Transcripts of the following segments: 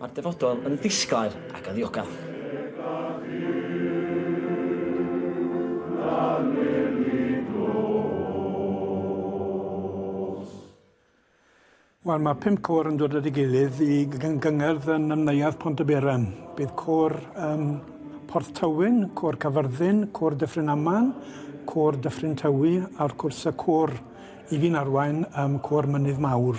Mae'r dyfodol yn ddisglair ac yn ddiogel. Wel, mae pum côr yn dod at ei gilydd i gyngerdd yn ymwneud Pontyberem. Bydd côr um, Porth Tywyn, côr Cyfyrddin, côr Dyffryn Aman, côr Dyffryn Tywi a'r cwrs y côr i fi'n arwain um, côr Mynydd Mawr.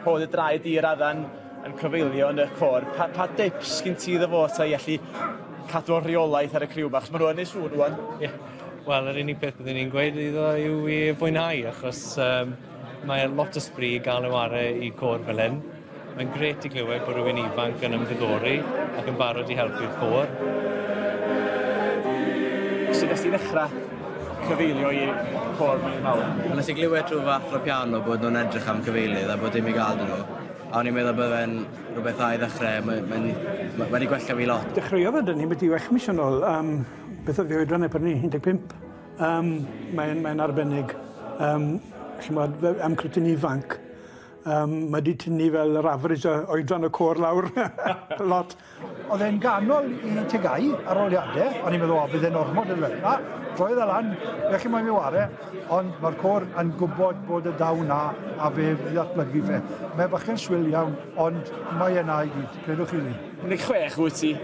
Rho dy draed di i'r addan yn cyfeilio yn y côr. Pa, pa dips gyn ti iddo fo ta i allu cadw o rheolaeth ar y criw bach? Mae nhw'n ei sŵn rwan. Yeah. Wel, yr unig beth byddwn ni'n gweud iddo yw i fwynhau, achos um, mae lot o sbri gael ei ware i côr fel hyn. Mae'n gret i glywed bod rhywun ifanc yn ymddiddori ac yn barod i helpu'r côr. Sut nes ti ddechrau? cyfeilio i côr Meirionnydd Mawr. A nes i glywed rhyw fath o piano bod nhw'n edrych am cyfeilydd a bod dim i gael 'da nhw, a o'n i'n meddwl bydde fe'n rhywbeth dda i ddechrau, mae mae'n ma' wedi gwella fi lot. Dechreuodd e 'da ni byti wech mis yn ôl, yym beth o'dd 'i oedran e pryd 'ny? Un deg pump? Yym mae'n mae'n arbennig yym ch'mod fe- am cwtyn ifanc yym ma' 'di tynnu fel yr average o oedran y côr lawr lot. Oedd e'n ganol i tegau ar oliadau, o'n i'n meddwl, o, bydd e'n ormod yn fel. Na, droedd e lan, fe chi moyn mi ware, ond mae'r côr yn gwybod bod y daw na, a fe ddatblygu fe. Mae bachgen swil iawn, ond mae yna i gyd, credwch chi fi. 16 wyt ti,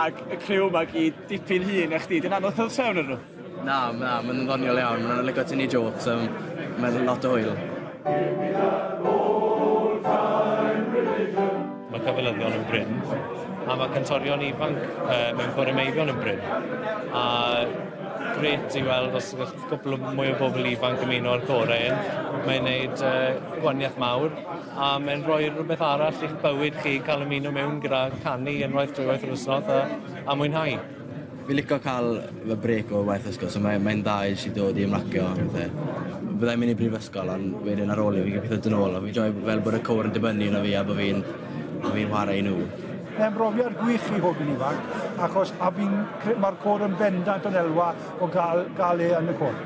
ac y criw yma gyd dipyn hŷn na chdi, dyna anodd cael trefn arnyn nhw. Na, na, mae'n ddoniol iawn. Mae'n lygo tynnu jokes, um, mae'n lot o hwyl. Mae cyfylyddion yn bryn, a mae cantorion ifanc uh, mewn corymeifion yn bryn. A gret i weld os ydych cwbl mwy o bobl ifanc yn mynd o'r gorau yn. Mae'n gwneud uh, gwaniaeth mawr a mae'n rhoi rhywbeth arall i'ch bywyd chi cael ymuno mewn gyda canu unwaith drwy waith yr wythnos a, a mwynhau. Fi lico ca'l fy brêc o waith ysgol so mae mae'n dda i js i dod i ymlacio a pethe. Fyddai'n myn' i brifysgol on' wedyn ar ôl 'ny fi gobeithio do' nôl a fi'n joio fel bod y côr yn dibynnu arno fi a bo' fi'n bo' fi'n whare i nw. Mae'n brofiad gwych i fod yn ifanc achos a fi'n cre- ma'r côr yn bendant yn elwa o ga'l ga'l e yn y côr.